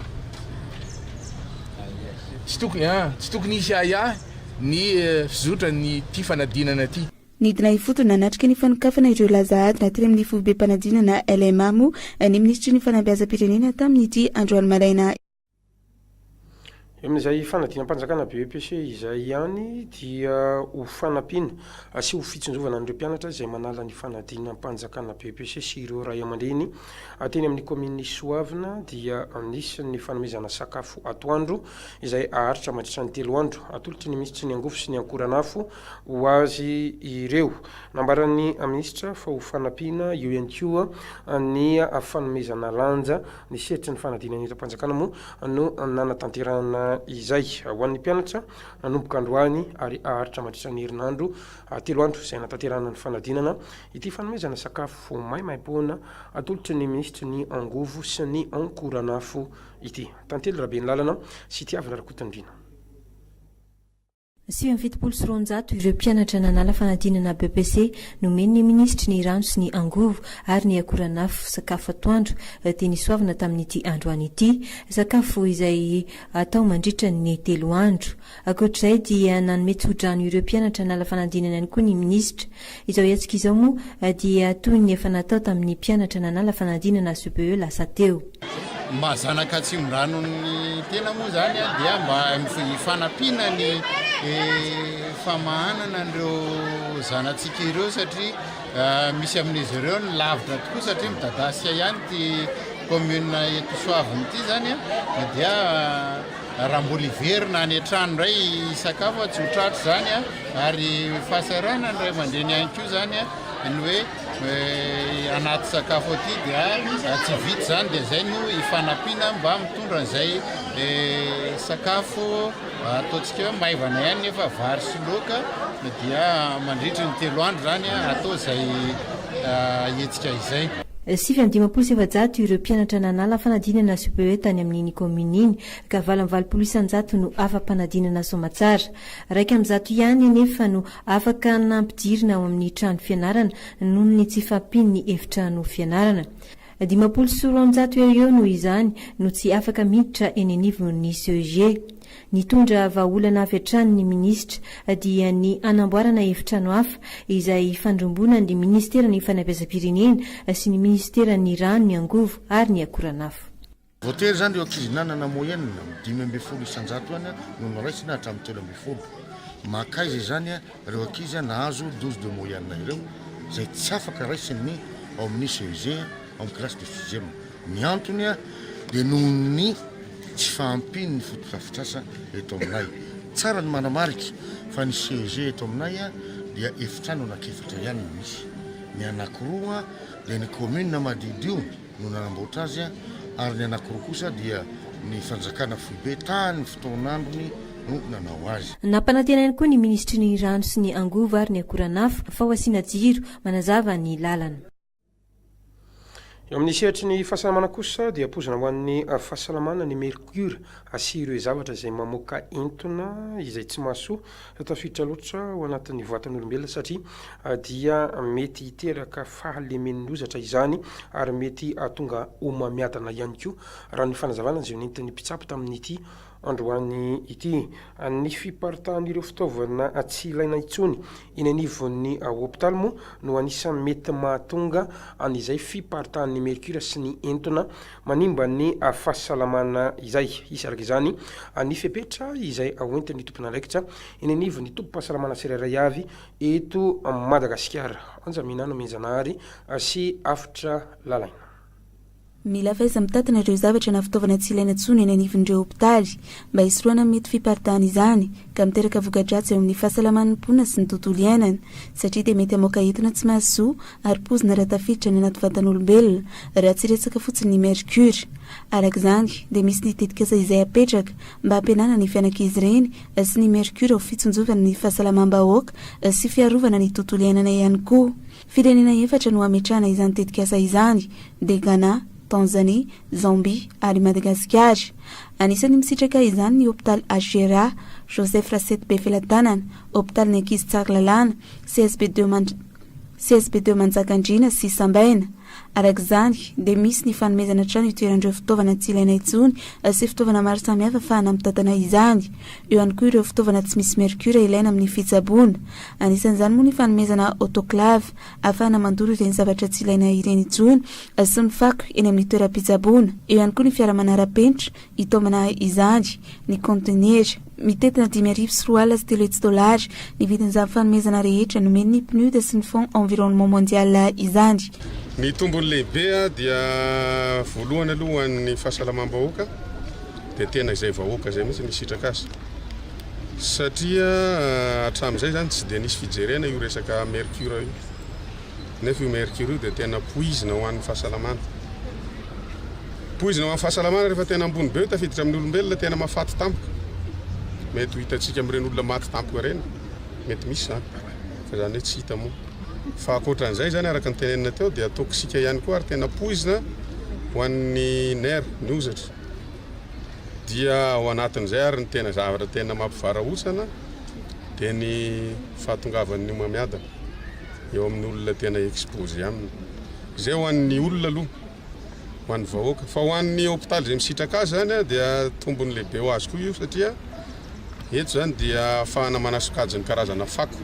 tsy tokony an? tsy tokony hisy ahiahy ny fizotran'ity fanadinana ity. Nidina ifotony nanatrika ny fanokafana ireo laza adina teny amin'ny Foibem-panadinana LMA moa ny Minisitry ny Fanabeazam-pirenena tamin'ity androany maraina. Eo amin'izay fanadinam-panjakana BEPC izay ihany dia ho fanampiana sy ho fitsinjovana an'ireo mpianatra izay manala ny fanadinam-panjakana BEPC sy ireo ray aman-dreny teny amin'ny kaominin'i Soavina dia nisy ny fanomezana sakafo atoandro izay haharitra mandritra ny telo andro. Atolotry ny Minisitry ny Angovo sy ny Ankoranafo ho azy ireo. Nambaran'ny minisitra fa ho fanampiana eo ihany koa ny fanomezana lanja ny sehatry ny fanadinana eram-panjakana moa no nanatanterahana izay. Ho an'ny mpianatra, nanomboka androany ary haharitra mandritra ny herinandro telo andro izay hanatanterahana ny fanadinana ity fanomezana sakafo maimaimpoana atolotry ny minisitry ny angovo sy ny ankoranafo ity. Tantely Rabenilalana sy Tiavina Rakotondriana. Sivy amby fitopolo sy roanjato ireo mpianatra nanala fanadinana BEPC nomen'ny minisitry ny rano sy ny angovo ary ny akoranafo sakafo atoandro dia nisoavina tamin'ity androany ity, sakafo izay atao mandritra ny telo andro. Ankoatr'izay dia nanome tsodrano ireo mpianatra nala fanadinana ihany koa ny minisitra. Izao hetsika izao moa dia toy ny efa natao tamin'ny mpianatra nanala fanadinana SBE lasa teo. Mba zanaka atsimondranon' tena moa izany dia mba hifanampiana ny famahanana an'ireo zanatsika ireo satria misy amin'izy ireo ny lavitra tokoa satria midadasika ihany ity commune Etosoavina ity izany dia Raha mbola hiverina any an-trano indray hisakafo aho, tsy ho tratry izany an! Ary fahasahiranan'ny ray aman-dreny ihany koa izany an, ny hoe anaty sakafo aty dia tsy vita izany, dia izay no ifanampiana mba mitondra an'izay sakafo ataontsika hoe maivana ihany nefa vary sy laoka, dia mandritry ny telo andro izany an, atao izay hetsika izay. Sivy amby dimampolo sy efajato ireo mpianatra nanala fanadinana CPE tany amin'iny kaominina iny, ka valo amby valopolo isanjato no afa-panadinana soamantsara. Iraika amby zato ihany anefa no afaka nampidirina ao amin'ny trano fianarana noho ny tsy fahampian'ny efitrano fianarana. Dimampolo sy roanjato eo ho eo noho izany no tsy afaka miditra eny anivon'ny CEG. Nitondra vahaolana avy hatrany ny minisitra, dia ny hanamboarana efitrano hafa izay hifandromboana ny minisiteran'ny fanabeazam-pirenena sy ny minisiteran'ny rano, ny angovo ary ny akoranafo. Voatery izany ireo ankizy nanana moyenne dimy ambin'ny folo isan-jato ihany no noraisina hatramin'ny telo ambin'ny folo. Mankaiza izany? ireo ankizy nahazo dose de moyenne ireo izay tsy afaka raisin'ny ao amin'ny CEG ao amin'ny classe de sixième. Ny antony dia noho ny tsy fahampian'ny fotodrafitrasa eto aminay. Tsara ny manamarika fa ny CEG eto aminay dia efitrano anak'efatra ihany no misy. Ny anankiroa dia ny commune Madidio no nanamboatra azy ary ny anankiroa kosa dia ny fanjakana foibe tamin' ny fotoan'androny no nanao azy. Nampanantena ihany koa ny minisitry ny Rano sy ny angovo ary ny akoranafo fa ho asiana jiro manazava ny lalana. Eo amin'ny sehatry ny fahasalamana kosa dia poizina ho an'ny fahasalamana ny mercure sy ireo zavatra izay mamoaka entona izay tsy mahasoa. tafiditra loatra ao anatin'ny vatan'olombelona satria dia mety hiteraka fahalemen'ny lozatra izany ary mety hahatonga homamiadana ihany koa, raha ny fanazavana izay nentin'ny mpitsabo tamin'ity androany ity. Ny fiparitahan'ireo fitaovana tsy ilaina intsony eny anivon'ny hopitaly moa no anisan'ny mety mahatonga an'izay fiparitahan'ny mercure sy ny entona manimba ny fahasalamana izay. Hisy araka izany ny fepetra izay hoentin'ny tompon'andraikitra eny anivon'ny tobim-pahasalamana tsirairay avy eto Madagasikara. Anja Minah Nomenjanahary sy Avotra Lalaina. Mila faiza mitantana ireo zavatra na fitaovana tsy ilaina intsony eny anivon'ireo hopitaly mba hisorohana ny mety fiparidahan' izany, ka miteraka voka-dratsy eo amin'ny fahasalaman'ny mponina sy ny tontolo iainana, satria dia mety hamoaka etona tsy mahasoa ary poizina raha tafiditra any anaty vatan'olombelona, raha tsy resaka fotsiny ny mercure. Araka izany, dia misy ny tetikasa izay apetraka mba hampihenana ny fianankizy ireny sy ny mercure ho fitsinjovana ny fahasalamam-bahoaka sy fiarovana ny tontolo iainana ihany koa. Firenena efatra no hametrahana izany tetikasa izany, dia Ghana, Tanzanie, Zambie ary i Madagasikara. Anisan'ny misitraka izany ny Hopitaly HJRA, Joseph Rasety Befelatanana, Hopitalin'ny Ankizy Tsaralalàna, CSB deux Mand CSB deux Manjakandriana sy Sambaina. Araka izany, dia misy ny fanomezana trano itoeran'ireo fitaovana tsy ilaina intsony sy fitaovana maro samihafa afahana mitantana izany. Eo ihany koa ireo fitaovana tsy misy mercure ilaina amin'ny fitsaboana. Anisan'izany moa ny fanomezana autoclave ahafahana mandoro ireny zavatra tsy ilaina ireny intsony sy ny fako eny amin'ny toeram-pitsaboana. Eo ihany koa ny fiara manara-penitra hitaomana izany. Ny kaontenera. Mitentina dimy arivo sy roa alina sy telo hetsy dolara ny vidin'izany fanomezana rehetra nomen'ny PNUD sy ny Fonds Environnement Mondial izany. Ny tombony lehibe dia voalohany aloha ho an'ny fahasalamam-bahoaka. Dia tena izay vahoaka izay mihitsy no hisitraka azy. Satria hatramin'izay izany tsy dia nisy fijerena io resaka mercure io. Nefa io mercure io dia tena poizina ho an'ny fahasalamana. Poizina ho an'ny fahasalamana rehefa tena ambony be io tafiditra amin'ny olombelona, tena mahafaty tampoka. Mety ho hitantsika amin'ireny olona maty tampoka ireny, mety misy izany. Fa izany hoe tsy hita moa. Fa ankoatran'izay izany araka ny tenenina teo dia toxique ihany koa ary tena poizina ho an'ny nerfs, ny hozatra. Dia ao anatin'izay ary ny tena zavatra tena mampivarahontsana dia ny fahatongavan'ny homamiadana eo amin'ny olona tena expose aminy. Izay ho an'ny olona aloha, ho an'ny vahoaka. Fa ho an'ny hopitaly izay misitraka azy izany dia tombony lehibe ho azy koa io satria Eto izany dia afahana manasokajy ny karazana fako.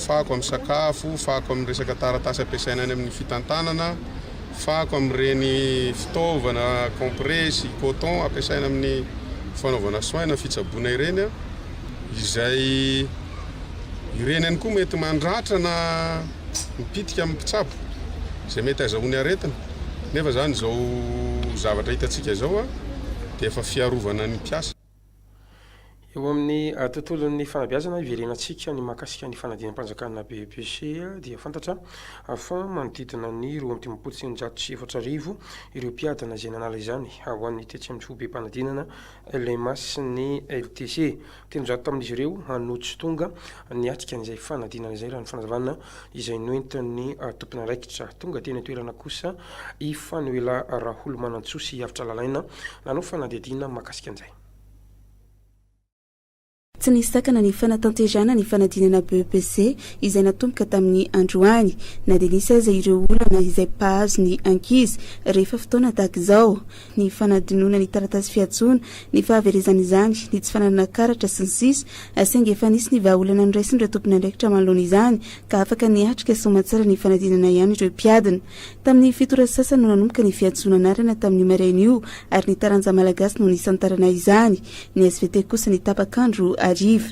Fako amin'ny sakafo, fako amin'ny resaka taratasy ampiasaina any amin'ny fitantanana, fako amin'ireny fitaovana kompresy, coton ampiasaina amin'ny fanaovana soin na fitsaboana ireny izay ireny ihany koa mety mandratra na Mipitika amin'ny mpitsabo izay mety azahoany aretina nefa izany izao zavatra hitantsika izao dia efa fiarovana ny mpiasa. Eo amin'ny tontolon'ny fanabeazana iverenantsika ny mahakasika ny fanadinam-panjakana BEPC dia fantatra fa manodidina ny roa amby dimampolo sy eninjato sy efatra arivo ireo mpiadina izay nanala izany ho an'ny tetsy amin'ny foibem-panadinana LMA sy ny LTC Telonjato tamin'izy ireo no tsy tonga niatrika an'izay fanadinana izay, raha ny fanazavana izay noentin'ny tompon'andraikitra. Tonga teny an-toerana kosa i Fanoela Raholomanantsoa sy i Avotra Lalaina nanao fanadihadiana mahakasika an'izay. Tsy nisy sakana ny fanatanterahana ny fanadinana BEPC izay natomboka tamin'ny androany, na dia nisy aza ireo olana izay mpahazo ny ankizy rehefa fotoana tahaka izao. ny fanadinoana ny taratasy fiantsoana, ny fahaverezan'izany, ny tsy fananana karatra, sy ny sisa Saingy efa nisy ny vahaolana noraisin'ireo tompon'andraikitra manoloana izany ka afaka niatrika soamantsara ny fanadinana ihany ireo mpiadina. Tamin'ny fito ora sasany no nanomboka ny fiantsoana anarana tamin'io maraina io ary ny taranja malagasy no nisantarana izany. Ny svt kosa ny tapak'andro hariva.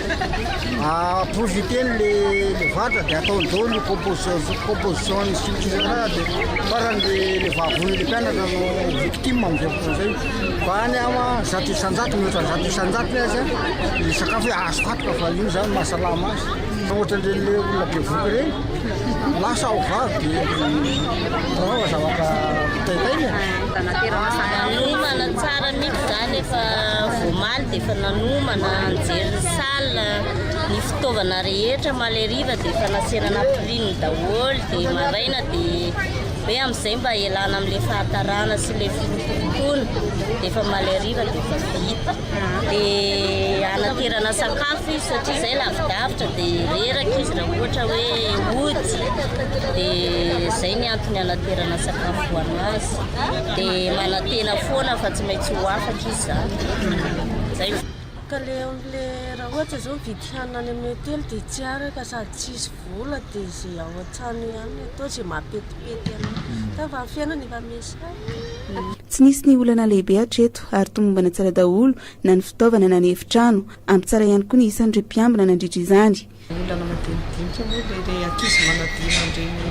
Profiter-ny le le vatra de ataony daholo ny composition composition ny structure de farany le le vavony le mpianatra no victime amin'izay fotoana izay fa any ama zato isan-jato mihoatra zato isan-jatony aza ny sakafo hoe azoko antoka fa io zany mahasalama azy fa ohatran'ireny le olona be voky ireny lasa ao vavy de anaovana zavatra taitaina e. Miomana tsara mihitsy zany efa voamaly de Efa nanomana, nijery ny salle, ny fitaovana rehetra maleriva dia efa nasiana napiriny daholo dia maraina dia hoe amin'izay mba hialana amin'ilay fahatarana sy ilay firokotokoana dia efa maleriva dia efa vita. Dia hanaterana sakafo izy satria izay lavidavitra dia reraka izy raha ohatra hoe ody dia izay ny antony hanaterana sakafo ho an'azy. Dia manantena foana fa tsy maintsy ho afaka izy. Ka le le raha ohatra zao mividy hanina any amin'ny hotely dia tsy araka sady tsisy vola dia izay ao an-trano ihany no atao izay mahapetipety anao. Hmm. Fa amin'ny fiainana efa misy hafa. Tsy nisy ny olana lehibe hatreto ary tomombana tsara daholo na ny fitaovana na ny efitrano. Ampy tsara ihany koa ny isan'ireo mpiambina nandritra izany. Olana madinidinika moa dia ilay ankizy manadino an'ireny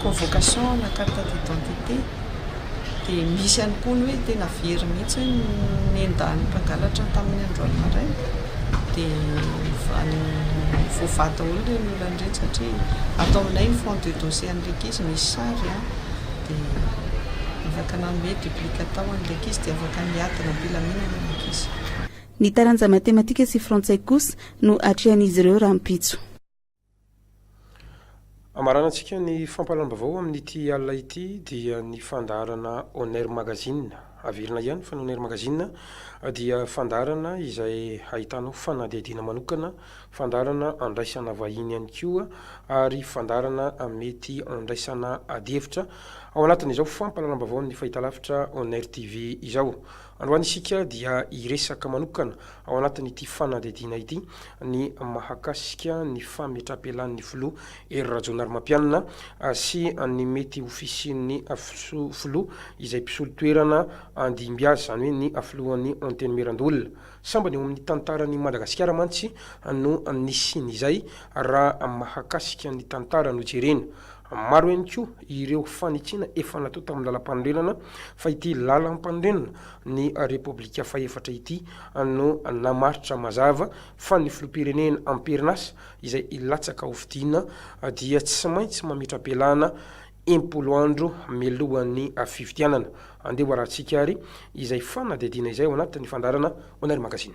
convocation na carte d'identité. Dia misy ihany koa ny hoe tena very mihitsy hoe nendahan'ny mpangalatra tamin'ny androany maraina dia any voavaha daholo ireny olana ireny satria ato aminay ny fond de dossier an'ilay ankizy misy sary a, dia afaka nanome duplicata ho an'ilay ankizy dia afaka niadana am-pilaminana ilay ankizy. Ny taranja matematika sy frantsay kosa no atrehan'izy ireo rahampitso. Hamaranantsika ny fampahalam-baovao amin'ity alina ity dia ny fandaharana Oner Magazine. Averina ihany fa ny Oner Magazine dia fandaharana izay ahitanao fanadihadiana manokana, fandaharana andraisana vahiny ihany koa ary fandaharana mety andraisana adihevitra ao anatin'izao fampahalalam-baovao amin'ny fahitalavitra Oner TV izao. Androany isika dia hiresaka manokana ao anatin'ity fanadihadiana ity ny mahakasika ny fametraham-pialan'ny filoha Hery Rajaonarimampianina sy ny mety ho fisian'ny filoha izay mpisolo toerana handimby azy, izany hoe ny filohan'ny Antenimierandoholona. Sambany eo amin'ny tantaran'i Madagasikara mantsy no nisian'izay raha mahakasika ny tantara no jerena. Maro ihany koa ireo fanitsiana efa natao tamin'ny lalam-panorenana fa ity lalam-panorenana ny Repoblika fahefatra ity no namaritra mazava fa ny filoham-pirenena amperin'asa izay hilatsaka ho fidiana dia tsy maintsy mametra-pialana impolo andro mialohan'ny fifidianana. Andeha hoarahantsika ary izay fanadihadiana izay ao anatin'ny fandaharana Onair Magazine.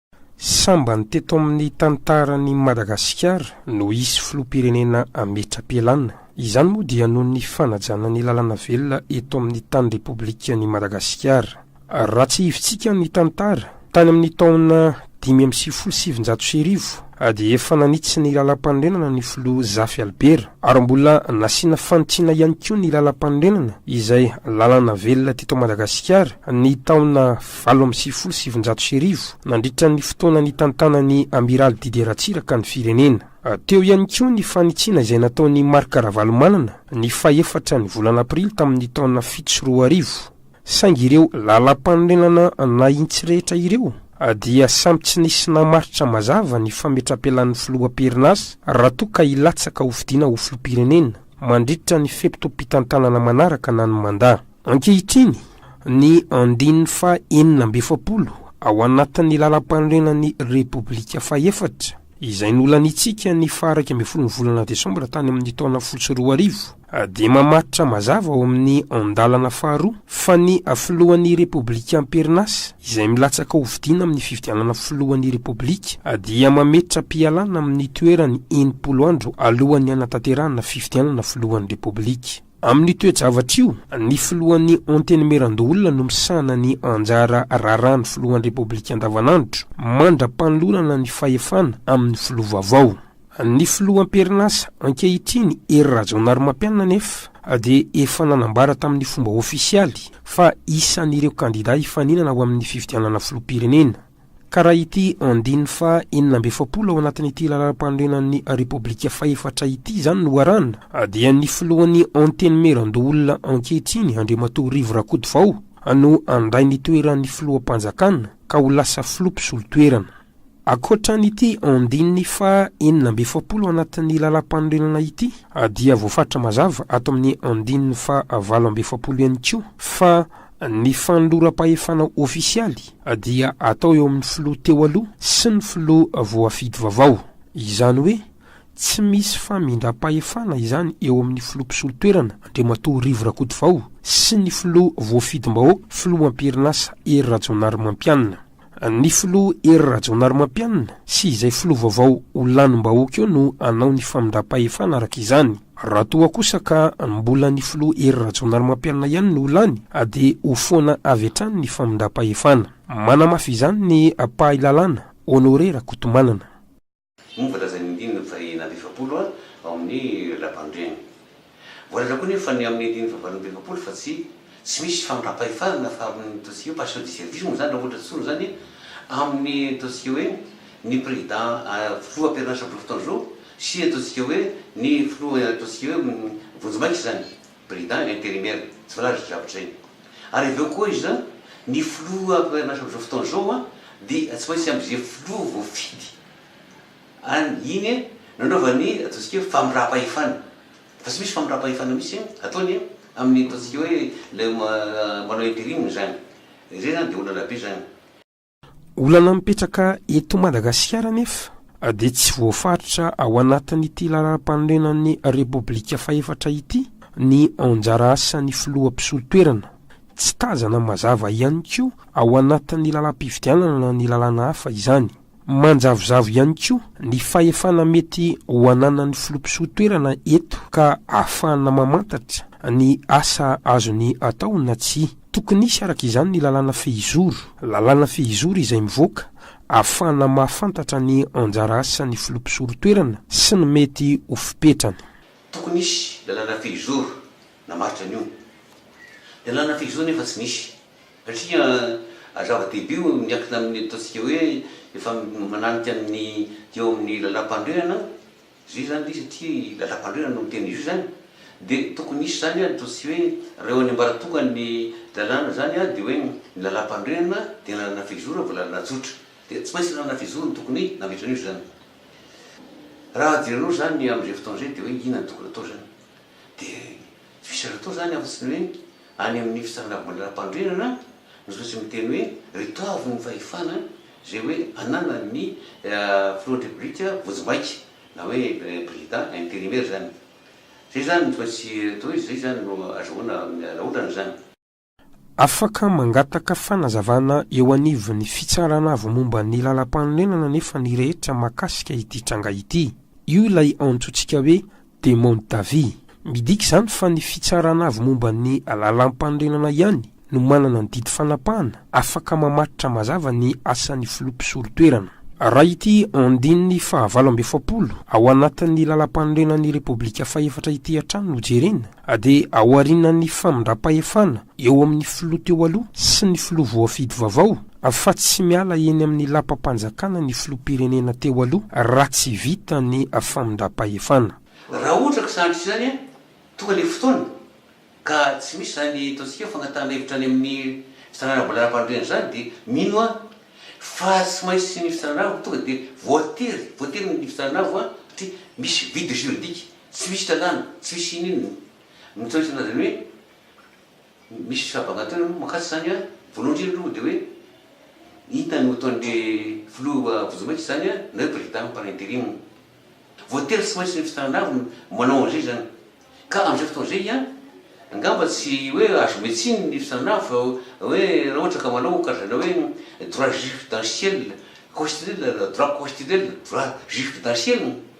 Sambany teto amin'ny tantaran'i Madagasikara no hisy filoham-pirenena hametra-pialana. Izany moa dia noho ny fanajana ny lalàna velona eto amin'ny tany Repoblikan'i Madagasikara. Raha tsihivintsika ny tantara, tany amin'ny taona dimy amby sivifolo sy sivinjato sy arivo dia efa nanitsy ny lalàmpanorenana ny filoha Zafy Albert ary mbola nasiana fanitsiana ihany koa ny lalàmpanorenana izay lalàna velona teto Madagasikara ny taona valo amby sivifolo sy sivinjato sy arivo, nandritra ny fotoana nitantanan'ny Amiraly Didier Ratsiraka ny firenena. Teo ihany koa ny fanitsiana izay nataon'i Marc Ravalomanana ny fahefatra ny volana aprily tamin'ny taona fito sy roa arivo. Saingy ireo lalàmpanorenana nahitsy rehetra ireo dia samy tsy nisy namaritra mazava ny fametrapelan'ny filoha am-perinasa raha toa ka hilatsaka hofidiana ho filoham-pirenena mandritra ny fe-potoam-pitantanana manaraka na ny mandat. Ankehitriny, ny andininy faha enina amby efapolo ao anatin'ny Lalampanorenan'ny Repoblika fahefatra, izay nolanintsika ny faha iraika ambin'ny folon'ny volana desambra tany amin'ny taona fotsy roa arivo, dia mamaritra mazava ao amin'ny andalana faharoa fa ny Filohan'ny Repoblika am-perinasa, izay milatsaka hofidiana amin'ny fifidianana Filohan'ny Repoblika, dia mametra-pialana amin'ny toerany enimpolo andro alohan'ny hanatanterahana fifidianana Filohan'ny Repoblika. Amin'io toe-javatra io, ny filohan'ny Antenimierandoholona no misahana ny anjara raharahan'ny filohan'ny Repoblika andavanandro, mandra-panolorana ny fahefana amin'ny filoha vaovao. Ny filoha am-perinasa ankehitriny, Hery Rajaonarimampianina anefa dia efa nanambara tamin'ny fomba ofisialy fa isan'ireo kandidà hifaninana ao amin'ny fifidianana filoham-pirenena. Ka raha ity andininy faha enina amby efapolo ao anatin'ity Lalàmpanorenan'ny Repoblika fahefatra ity izany no arahana, dia ny filohan'ny Antenimierandoholona ankehitriny, Andriamatoa Rivo Rakotovao, no handray ny toeran'ny Filoham-panjakana, ka ho lasa Filoha mpisolo toerana. Ankoatra an'ity andininy faha enina amby efapolo ao anatin'ny Lalàmpanorenana ity, dia voafaritra mazava ato amin'ny andininy faha valo amby efapolo ihany koa fa, Ny fanoloram-pahefana ofisialy dia atao eo amin'ny filoha teo aloha sy ny filoha voafidy vaovao. Izany hoe tsy misy famindram-pahefana izany eo amin'ny filoha mpisolo toerana Andriamatoa Rivo Rakotovao sy ny filoha voafidim-bahoaka filoham-pirinasa Hery Rajaonarimampianina. Ny filoha Hery Rajaonarimampianina sy izay filoha vaovao ho lanim-bahoaka eo no hanao ny famindram-pahefana araka izany. Raha toa kosa ka mbola ny filoha Hery Rajaonarimampianina ihany no ho lany dia ho foana avy hatrany ny famindram-pahefana. Manamafy izany ny mpahay lalàna, Honoré Rakotomanana. Moa ny voalazan'ny andininy faheenina amby efapolo ao amin'ny Lapandraigny. Voalaza koa anefa fa ny amin'ny andininy fahavalo amby efapolo fa tsy tsy misy fandram-pahefana na fa amin'ny dossier hoe passio di service moa izany raha ohatra tsy zoro izany amin'ny dossier hoe ny président filoha am-perinasa Bolofotoandro sy dossier hoe ny filoha dossier hoe vonjimaika izany. Président intérimaire, tsy fantatro izay zavatra izay. Ary avy eo koa iza ny filoha mpampianaranasa amin'izao fotoana izao an, dia tsy maintsy am'izay filoha voafidy an, iny an, no anaovany ataontsika hoe famindram-pahefana. Fa tsy misy famindram-pahefana mihitsy an, ataony an, amin'ny ataontsika hoe ilay manao interim izany. Izay izany dia olana be izany. Olana mipetraka eto Madagasikara anefa dia tsy voafaritra ao anatin'ity laharam-panorenan'ny Repoblika fahefatra ity ny anjara asan'ny filoha mpisolo toerana. Tsy tazana mazava ihany koa ao anatin'ny lalam-pifidianana na ny lalàna hafa izany. Manjavozavo ihany koa ny fahefana mety ho ananan'ny filoha mpisolo toerana eto ka ahafahana mamantatra ny asa azony atao na tsia. Tokony hisy araka izany ny lalàna fehizoro. Lalàna fehizoro izay mivoaka ahafahana mahafantatra ny anjara asan'ny filoha mpisorotoerana sy ny mety ho fipetrany. Tokony hisy lalàna fehizoro namaritra an'io. Lalàna fehizoro nefa tsy nisy. Satria zava-dehibe io miankina amin'ny ataontsika hoe efa mananika ny eo amin'ny lalàmpanorenana Zay zany ty satria i Lalàmpanorenana no miteny izao zany de tokony hisy zany an toa tsy hoe reo any ambaratongan ny lalàna zany an de hoe ny Lalàmpanorenana de lalàna fehizoro vao lalàna tsotra de tsy maintsy lalàna fehizoro no tokony nametrany io zany raha jerenao zany am zay fotoana zay de hoe inona no tokony atao zany de Vitsivitsy atao izany afa-tsy ny hoe any amin'ny fitsarana voamalala-panorenana no toa tsy miteny hoe ry toavy ny fahefana izay hoe ananan'ny filohan'ny Repoblika vonjimbaika na hoe président intérimaire izany. Izay izany no toa tsy atao hoe izay izany no azahoana vahaolana izany. Afaka mangataka fanazavana eo anivon'ny Fitsarana Avo Momba ny Lalampanorenana anefa ny rehetra mahakasika ity tranga ity. Io ilay antsointsika hoe Demande d'avis. Midika izany fa ny Fitsarana Avo Momba ny Lalampanorenana ihany no manana ny didy fanapahana afaka mamatotra mazava ny asan'ny Filoha Mpisolo toerana. Raha ity andininy fahavalo amby efapolo ao anatin'ny Lalampanorenan'ny Repoblika fahefatra ity hatrany no jerena, Ady aorianan'ny famindram-pahefana eo amin'ny filoha teo aloha sy ny filoha voafidy vaovao, fa tsy miala eny amin'ny lapam-panjakana ny filoham-pirenena teo aloha raha tsy vita ny famindram-pahefana. Raha ohatra ka sahantsika izany, tonga ilay fotoana ka tsy misy izany ataontsika hoe fangatahana hevitra any amin'ny fitsarana mbola ara-panorenana izany dia mino aho fa tsy maintsy ny fitsarana avo no tonga dia voatery, voatery ny fitsarana avo satria misy vide juridique. Tsy misy lalàna, tsy misy ininona. Ny toetra an'azy ny hoe misy fahabagantoana aloha mankatso izany an, voalohany indrindra aloha dia hoe inona no ataon'le filoha vonjimaika izany an, na hoe président par interim. Voatery tsy maintsy ny fitananavy no manao an'izay zany. Ka amin'izay fotoana izay an, angamba tsy hoe azo omena tsiny ny fitananavy fa hoe raha ohatra ka manao karazana hoe droit juridentiel, constitutionnel, droit constitutionnel, droit juridentiel.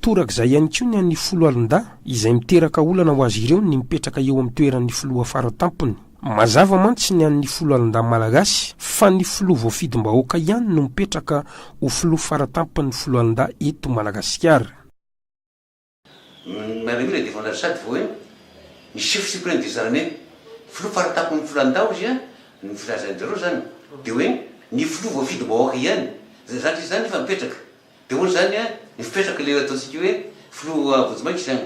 Torak'izay ihany koa ny an'ny foloalindahy izay miteraka olana ho azy ireo ny mipetraka eo amin'ny toeran'ny filoha faratampony. Mazava mantsy ny an'ny foloalindahy malagasy fa ny filoha voafidim-bahoaka ihany no mipetraka ho filoha faratampon'ny foloalindahy eto Madagasikara. Mario ilay devoly ary sady vao eo ny chef supreme des armées. Filoha faratampon'ny foloalindahy hozy an, ny filazan'i Dero zany. Dia hoe ny filoha voafidim-bahoaka ihany. Zatra izy zany nefa mipetraka. Dia hoy izany ny fipetraka ilay ataontsika hoe filoha vonjimaika izany.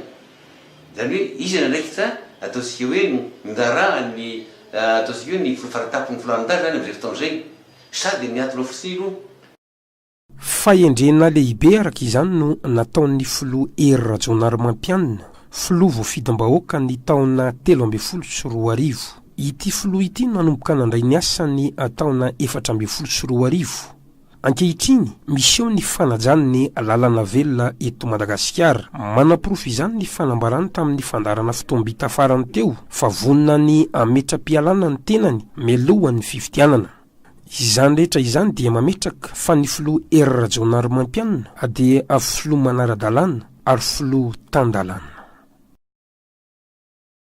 Izany hoe izy ny andraikitra ataontsika hoe nindarahan'ny ataontsika hoe ny filoha faratapony filoha Anda izany amin'izay fotoana izay. Sady niatona fotsiny i Lo. Fahendrena lehibe araka izany no nataon'ny filoha Hery Rajaonarimampianina, filoha voafidim-bahoaka ny taona telo ambin'ny folo sy roa arivo. Ity filoha ity nanomboka nandray ny asany taona efatra ambin'ny folo sy roa arivo. Ankehitriny, miseho ny fanajany ny lalana velona eto Madagasikara. Manaporofo izany ny fanambarany tamin'ny fandaharana fotoam-bita farany teo fa vonona ny hametra-pialana ny tenany mialohan'ny fifidianana. Izany rehetra izany dia mametraka fa ny filoha Hery Rajaonarimampianina dia filoha manara-dalàna ary filoha tan-dalàna.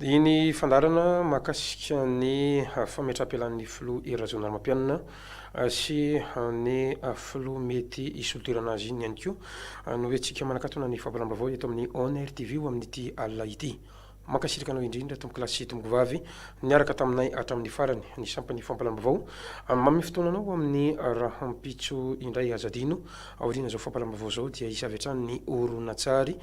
Dia ny fandaharana mahakasika ny fametraham-pialan'ny filoha Hery Rajaonarimampianina sy ny filoha mety hisolo toerana azy iny ihany koa no entintsika manakatona ny fampiram-baovao eto amin'ny Onr TV ho amin'ity alina ity. Mankasitraka anao indrindra tompokolahy sy tompokovavy niaraka taminay hatramin'ny farany ny sampan'ny fampalam-baovao. Manome fotoana anao ho amin'ny rahampitso indray aza adino. Aorian'izao fampalam-baovao izao dia hisavy hatrany ny horonantsary